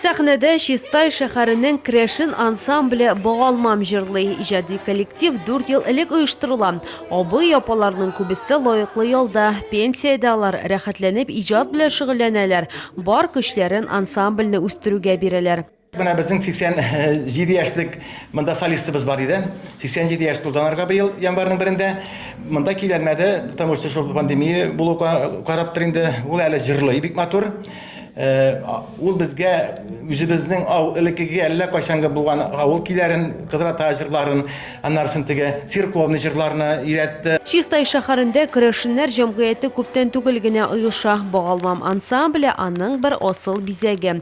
Сәхнәдә Чистай шәһәренең Крешин ансамбле Богалмам җырлый. Иҗади коллектив 4 ел элек оештырыла. Абый, апаларның күбесе лаеклы ялда, пенсиядә алар рәхәтләнеп иҗат белән шөгыльләнәләр, бар көчләрен ансамбльне үстерүгә бирәләр. Менә безнең 87 яшьлек монда солистыбыз бар иде. 87 яшь тулды анарга быел январьның берендә. Монда киләлмәде, потому что шул пандемия булу караптыр инде. Ул әле җырлый бик матур. Э, ул безгә үзебезнең ау элеккеге әллә кайчанга булган авыл киләрен, кыдрата җырларын, аннарсын теге церковный җырларны өйрәтте. Чистай шәһәрендә керәшеннәр җәмгыяте күптән түгел генә оеша. Багалмам ансамбле аның бер асыл бизәге.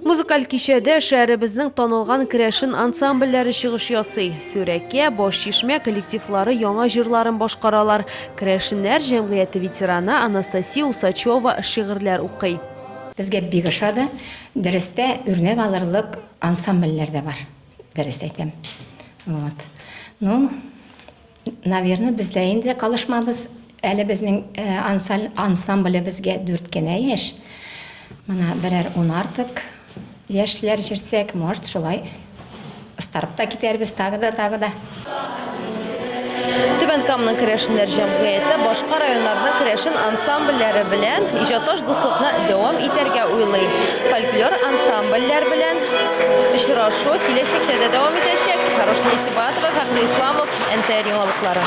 Музыкаль кичәдә шәһәребезнең танылган керәшен ансамбльләре чыгыш ясый. Сүрәкә, Башчишмә коллективлары яңа җырларын башкаралар. Керәшеннәр җәмгыяте ветераны Анастасия Усачева шигырьләр укый. Безгә бик ошады. Дөрестә, үрнәк алырлык ансамбльләр дә бар, дөрес әйтәм. Вот. Ну. Наверно, без дә инде калышмабыз. Әле безнең ансаль ансамблебезгә дүрт кенә яшь. Менә берәр ун артык яшьләр җирсәк, может, шулай ыстарып та китәрбез, тагы да, тагы да. Түбән Камның керәшеннәр җәмгыяте башка районнарның керәшен ансамбльләре белән иҗатташ дуслыкны дәвам итәргә уйлый. Фольклор ансамбльләр белән Очрашу киләчәктә дә дәвам итәчәк. Хорошнее Сибатова, Фәхри Исламов, НТР яңалыклары.